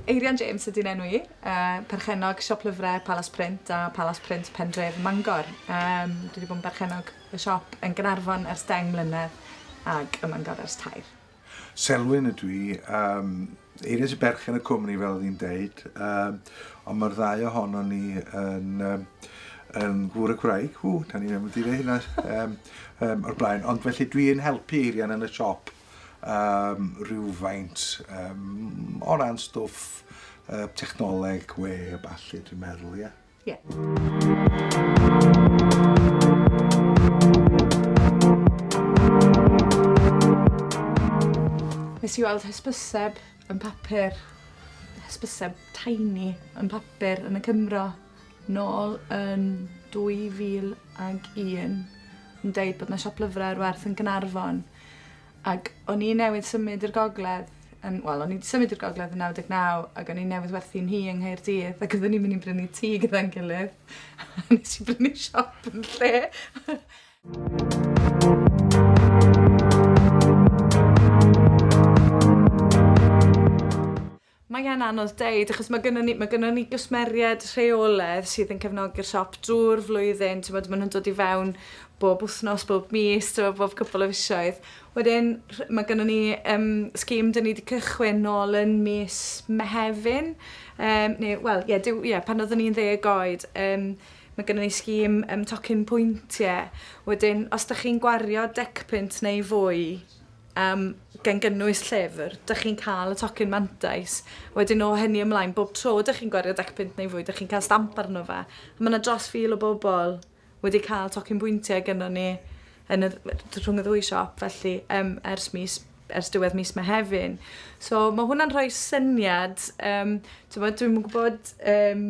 Eirian James ydy 'n enw i. Yy perchennog siop lyfre Palas Print a Palas Print Pendref Mangor. Yym dwi 'di bod yn berchennog y siop yn Gaernarfon ers deng mlynedd ag ym Mangor ers tair. Selwyn ydw i, yym Eirian sy'n berchen y cwmni fel oedd hi'n deud, um, ond mae'r ddau ohono ni yn, um, yn gŵr y gwraig, ww, da ni'n mynd i ddweud hynna um, um, o'r blaen, ond felly dwi'n helpu Eirian yn y siop um, rhywfaint um, o ran stwff uh, technoleg, we, a balli, dwi'n meddwl, ie. Yeah. Ie. Nes i weld hysbyseb yn papur, hysbyseb tiny yn papur yn y Cymro, nôl yn 2001, yn dweud bod yna siop lyfrau ar werth yn Gynarfon. Ac o'n i newydd symud i'r gogledd yn wel o'n i 'di symud i'r gogledd yn 99 ac o'n i newydd werthu nhŷ yng Nghaerdydd ac oedden ni'n mynd i brynu tŷ gyda'n gilydd. A nes i brynu siop yn lle. Mae e'n anodd deud achos ma' gynnon ni ma' gynnon ni gwsmeried rheoledd sydd yn cefnogi'r siop drw'r flwyddyn t'mod ma' nw'n dod i fewn bob wthnos bob mis t'mo' bob cwpwl o fisoedd. Wedyn rh- ma' gynnon ni yym scheme 'dyn ni 'di cychwyn nôl yn mis Mehefin yym ne' wel ie Duw ie pan oddwn i'n ddeg oed yym ma' gynnon ni scheme yym tocyn pwyntie wedyn os 'dach chi'n gwario dec punt neu fwy um, gan gynnwys llyfr, dych chi'n cael y tocyn mantais. Wedyn o hynny ymlaen, bob tro dych chi'n gwario dec pint neu fwy, dych chi'n cael stamp arno fe. A mae yna dros fil o bobl wedi cael tocyn bwyntiau gyda ni yn y, rhwng y ddwy siop, felly um, ers, mis, ers diwedd mis mae hefyn. So mae hwnna'n rhoi syniad, um, dwi'n gwybod... Um,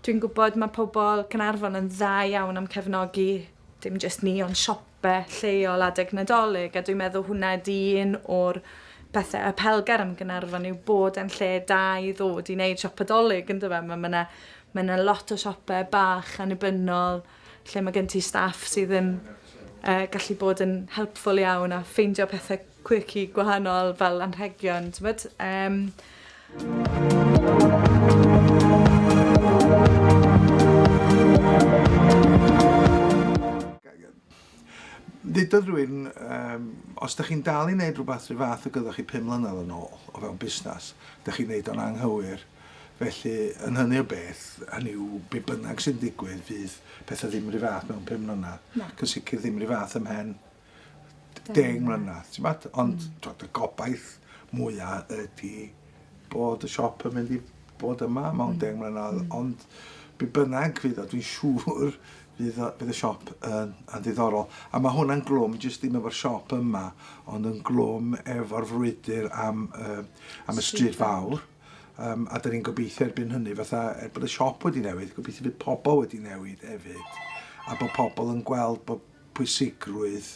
dwi'n gwybod mae pobl Cynarfon yn dda iawn am cefnogi dim jyst ni, ond siop beth lleol adeg Nadolig a dwi'n meddwl hwnna ydi un o'r pethe apelgar am Gaernarfon yw bod e'n lle da i ddod i neud siopa Dolig yndo fe ma' ma' 'na ma' 'na lot o siope bach annibynnol lle ma' gen ti staff sydd yn yy gallu bod yn helpful iawn a ffeindio pethe quirky gwahanol fel anrhegion t'mod yym. Ddedodd rywun yym os dych chi'n dal i neud rhywbeth rhyw fath ag oeddech chi pum mlynedd yn ôl o fewn busnes dych chi'n neud o'n anghywir felly yn hynny o beth hynny yw be' bynnag sy'n digwydd fydd pethe ddim rhyw fath mewn pum mlynedd. Nac. Yn sicir ddim rhyw fath ymhen deng mlynedd, ti'n gwybod? Ond mm. y gobaith mwyaf ydy bod y siop yn mynd i bod yma mewn mm. deng mlynedd, mm. ond be bynnag fydd o, dwi'n siŵr fydd, fydd y siop yn, yn ddiddorol. A mae hwnna'n glwm, jyst ddim efo'r siop yma, ond yn glwm efo'r frwydr am, uh, am y stryd fawr. Um, a dyn ni'n gobeithio erbyn hynny, fatha, er bod y siop wedi newid, gobeithio bydd pobl wedi newid hefyd. A bod pobl yn gweld bod pwysigrwydd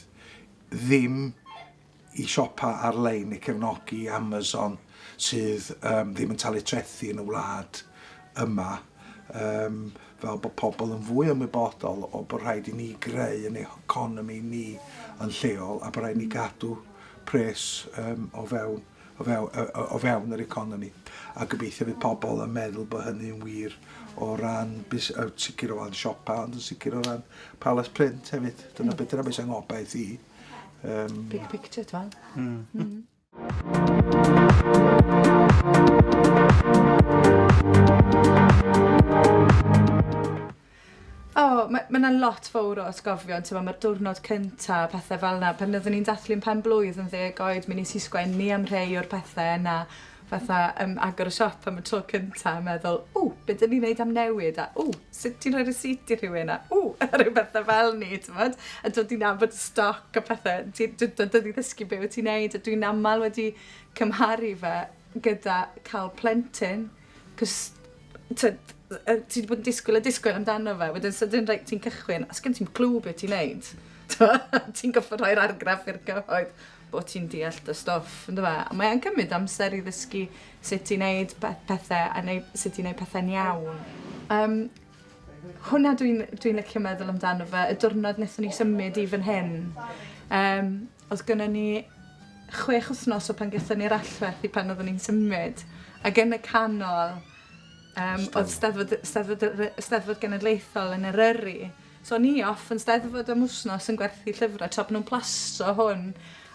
ddim i siopa ar-lein i cefnogi Amazon sydd um, ddim yn talu trethi yn y wlad yma um, fel bod pobl yn fwy ymwybodol o bod rhaid i ni greu yn economi ni yn lleol a bod rhaid ni gadw pres um, o fewn o fewn, o fewn yr economi. A gobeithio fydd pobl yn meddwl bod hynny'n wir o ran bus, uh, sicr o ran siopa, ond yn sicr o ran palace print hefyd. Dyna mm. beth yna beth sy'n ngobaith i. Um, Big picture, twan. Mm. Mm. O, ma' ma' 'na lot fowr o atgofion t'mo' ma'r diwrnod cynta a pethe fel 'na pan oeddwn i'n dathlu'n pen-blwydd yn ddeg oed mi nes i sgwennu am rhei o'r pethe yna fatha yym agor y siop am y tro cynta a meddwl ww be' 'dyn ni neud am newid a ww sut ti'n rhoi receipt i rhywun a ww a ryw bethe fel 'ny t'mod? A dod i nabod y stoc a pethe ti d- d- dod i ddysgu be' wyt ti'n neud a dwi'n amal wedi cymharu fe gyda ca'l plentyn Cos, tyd, ti wedi bod yn disgwyl a disgwyl amdano fe, wedyn sydyn rhaid ti'n cychwyn, a sgyn ti'n clw beth ti'n neud. ti'n goffa rhoi'r argraff i'r cyhoedd bod ti'n deall dy stoff, ynddo fe? A mae'n cymryd amser i ddysgu sut ti'n neud pethau a neud, sut ti'n neud pethau'n iawn. Um, Hwnna dwi'n dwi'n licio meddwl amdano fe y diwrnod nethon ni symud i fan hyn yym odd gynnon ni chwech wthnos o pan gethon ni'r allwedd i pan oddwn ni'n symud ag yn y canol yym odd Steddfod y Steddfod yr yy Steddfod Genedlaethol yn Eryri so o'n i off yn Steddfod am wthnos yn gwerthu llyfre tra bo' nw'n plastro hwn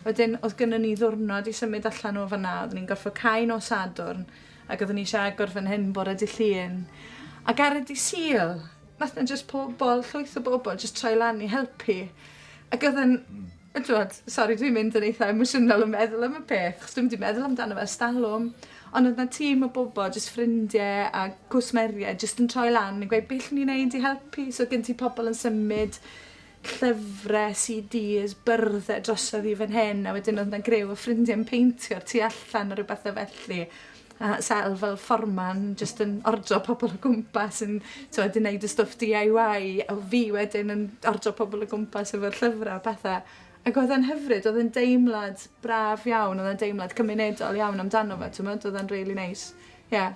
wedyn odd gynnon ni ddiwrnod i symud allan o fan 'na oddwn ni'n gorffod cau nos Sadwrn Ac oeddwn i eisiau agor fan hyn bore dy Llun. Ac ar y dy Sul, nath na jyst pobl, llwyth o bobl, jyst troi lan i helpu. Ac oedd yn, mm. Twod, sori dwi'n mynd yn eitha emosiynol yn meddwl am y peth, chos dwi'n mynd i meddwl amdano fe stalwm. Ond oedd na tîm o bobl, jyst ffrindiau a cwsmeriau, jyst yn troi lan yn gweud beth ni'n neud i helpu. So gen ti pobl yn symud llyfrau, CDs, byrddau drosodd i fan hyn, a wedyn oedd yna grew o ffrindiau yn peintio o'r tu allan o ryw bethau felly. A Sel fel fforman, jyst yn ordro pobl o gwmpas yn tywed, yn neud y stwff DIY, a fi wedyn yn ordro pobl o gwmpas efo'r llyfrau a pethau. Ac oedd e'n hyfryd, oedd e'n deimlad braf iawn, oedd e'n deimlad cymunedol iawn amdano fe, ti'n oedd e'n really nice. Yeah.